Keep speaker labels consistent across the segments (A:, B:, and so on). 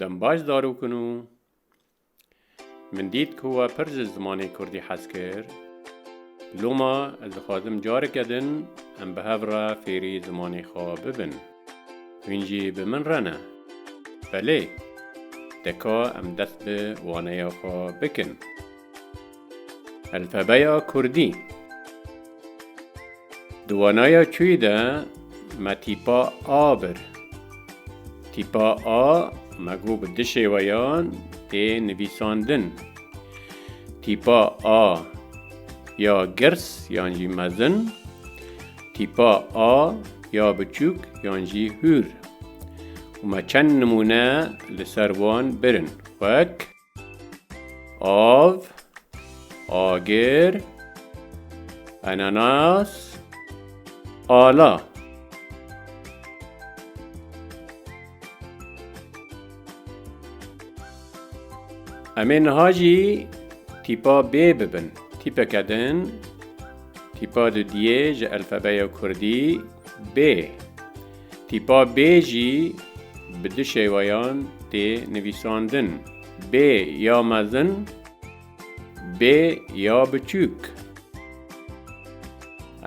A: Dem baş zarokin û min dît ku we pir ji zimanê kurdî hez kir. Loma ez dixwazim careke din em bi hev re fêrî zimanê xwe bibin. Hûn jî bi min re ne? Belê! Deka em dest bi waneya xwe bikin. Elfebeya Kurdî Di wanaya çûyî de me tîpa A bir. Tîpa A me got bi du şêweyan tê nivîsandin. Tîpa A ya girs yan jî mezin, tîpa A ya biçûk yan jî hûr. Û me çend nimûne li ser wan birin wek. Av, agir, enanas, ala. Em ê niha jî tîpa B bibin. Tîpeke din, tîpa dudiyê ji elfebeya Kurdî B. Tîpa bê jî bi du şêweyan tê nivîsandin, bê ya mezin, bê ya biçûk.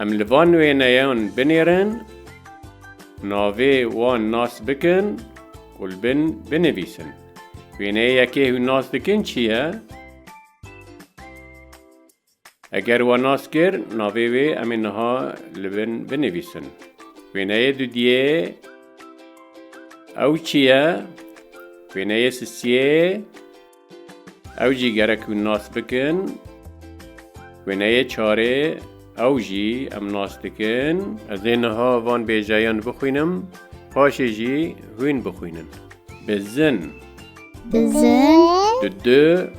A: Em li van wêneyan binêrin, navê wan nas bikin û li bin binivîsin. Wêneyê yekê hûn nas dikin çi ye? Eger we nas kir, navê wê em ê niha li bin binivîsin. Wêneyê dudiyê ew çi ye? Wêneyê sisiyê ew jî gerek hûn nas bikin. Wêneyê çarê ew jî em nas dikin. Ez ê niha van bêjeyan bixwînim, paşê jî hûn bixwînin. Bizin. Bizin. Dudu.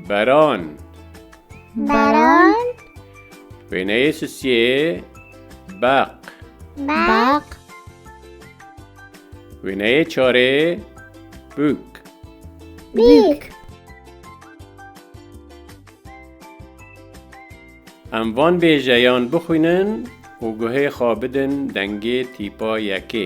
A: Baran. Baran. Wêneyê sisiyê baq. Baq. Wêneyê çarê bûk. Bûk. Em van bêjeyan bixwînin û guhê xwe bidin dengê tîpa yekê.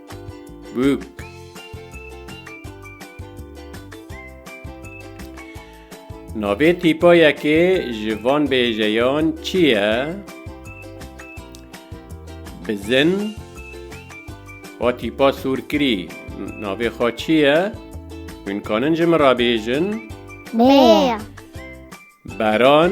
A: Bûk. Navê tîpayekê ji van bêjeyan çi ye? Bizin. O tîpa sûrkirî navê xwe çi ye? Hûn kanin ji min re bêjin? Bê. Baran.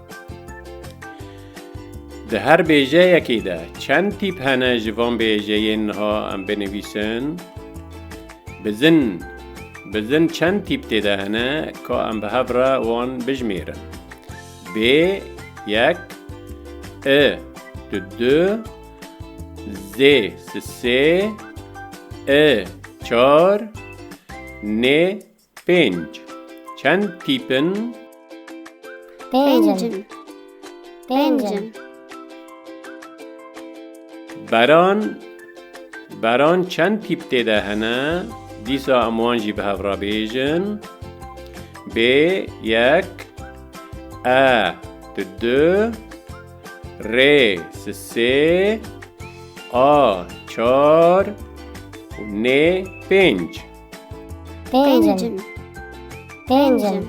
A: Di her bêjeyekê de çend tîp hene ji van bêjeyên niha em binivîsin? Bizin, bizin çend tîp tê de hene ka em bi hev re wan bijimêrin? Bê, yek, i, tu, du, zê, si, sê, i, çar, nê, Pênc. Çend tîp in? Pênc in. Pênc in. Beran. Beran çend tîp tê de hene? Dîsa em wan jî bi hev re bêjin. Bê yek. E di du. Rê si sê. A çar. Û nê pênc. Pêncim. Pêncim.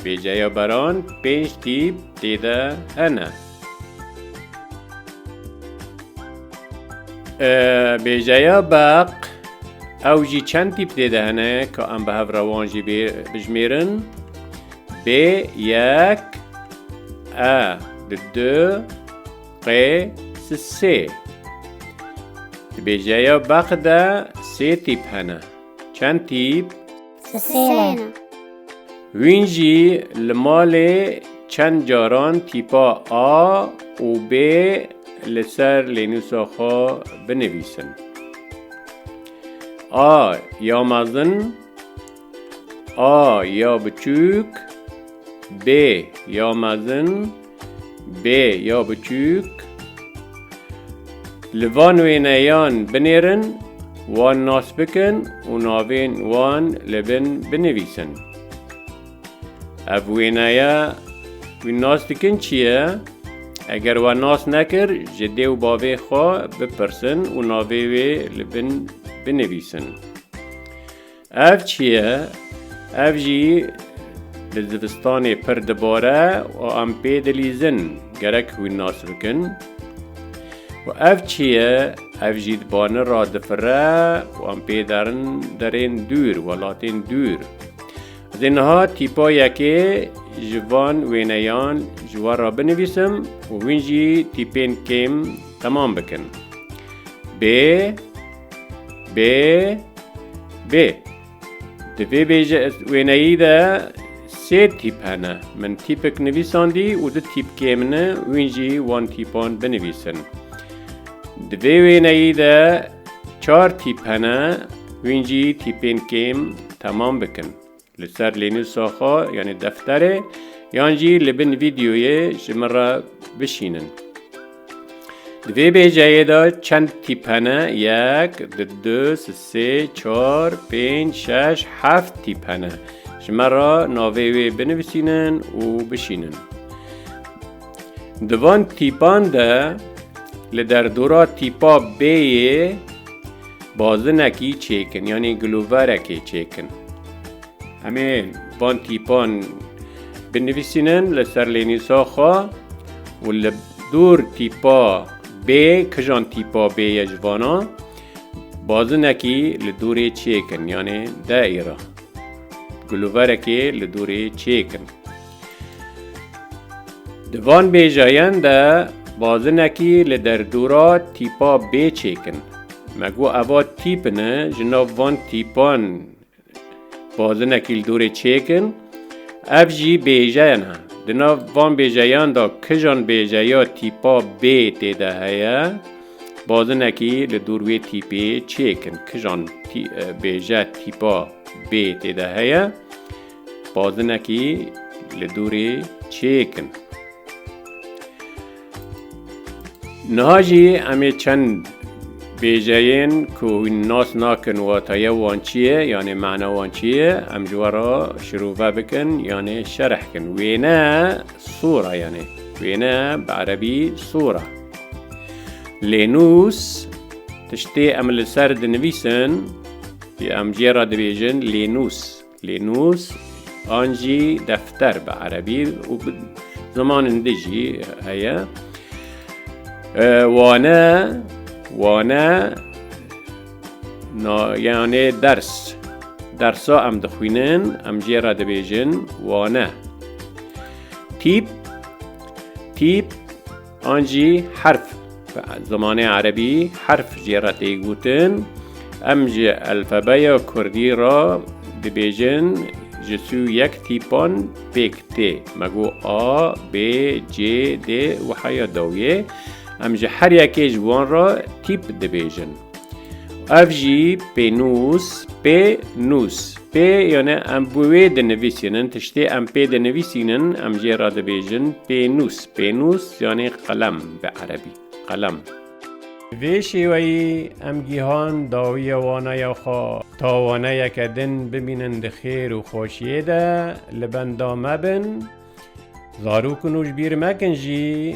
A: Bêceya baran pênc tîp tê de hene. Bêceya beq ew jî çend tîp tê de hene ka em bi hev rewan jî bijmêrin. Bê yek e di du Qê si sê. Di bêjeya beq de sê tîp hene. Çend tîp? Si sê ne. Wîn jî li malê çend caran tîpa A û B li ser lênûsa xwe binivîsin. A ya mezin, A ya biçûk, B ya mezin, B ya biçûk Li van wêneyan binêrin, wan nas bikin û navên wan li bin binivîsin. Ev wêneya wî nas dikin çi ye? Eger wan nas nekir, ji dê û bavê xwe bipirsin û navê wê li bin binivîsin. Ev çi ye? Ev jî li zivistanê pir dibare û em pê dilîzin, gerek wî nas bikin. Û ev çi ye? Ev jî di bani re difire û em pê derin derên dûr, welatên dûr. Ez ê niha tîpa yekê ji van wêneyan ji we re binivîsim û hûn jî tîpên kêm temam bikin. Bê. B B Di vê bêje wêneyî de sê tîp hene. Min tîpek nivîsandî û di tîpkê min e wîn jî wan tîpan binivîsin. Di vê wêneyî de çar tîp hene wîn jî tîpên kêm temam bikin. Li ser lênûsa xwe yanî defterê yan jî li bin vîdeoyê ji min re bişînin. Di vê bêjeyê de çend tîp hene yek, di du, sê, çar, pênc, şeş, heft tîp hene. Ji me re navê wê binivisînin û bişînin. Di van tîpan de li derdora tîpa bêyê Bazinekî çêkin yanî giloverekê çêkin. Em ê van tîpan binivîsînin li ser lênîsa xwe û li dûr tîpa bê kijan tîpa bê ye ji vana bazinekî li dûrê çêkin yanê de îra. Giloverekê li dûrê çêkin. Di van bêjeyan de bazinekî li derdora tîpa bê çêk in. Me got eva tîp ne, ji nav van tîpan bazinekî li dorê çêk in. Ev jî bêjeyan e. Di nav van bêjeyan de kijan bêjeya tîpa bê tê de heye, bazinekî li dor wê tîpê çêk in. Kijan bêje tîpa bê tê de heye? Badinekî li dûrê çêk in. Niha jî em ê çend bêjeyên ku hûn nas nakin wataye wan çi ye yanê mana wan çi ye em ji we re şirove bikin yanê şerh kin. Wêne sura yanê wêne bi erebî sura. Lê nûs tiştê em li ser dinivîsin em jê re dibêjin lê nûs. Lê nûs an jî defter bi erebî û bi zimanên din jî heye. Wane, wane yanê ders. Dersa em dixwînin em jê re dibêjin wane. Tîp, tîp An jî herf bi zimanê erebî herf jê re tê gotin. Em ji elfebeya kurdî re dibêjin ji sû yek tîpan pêk tê. Me got A, B, C, D û heya dawiyê. Em ji her yekê ji wan re tîp dibêjin. Ev jî pênûs, pê nûs. Pê yane em bi wê dinivîsînin, tiştê em pê dinivîsînin, em jê re dibêjin pênûs. Pênûs yanê qelem bi erebî. Qelem. Vê şêweyî em gihan dawiya waneya xwe. Ta waneyeke din bimînin di xêr û xweşiyê de li benda me bin, zarok nû ji bîr mekin jî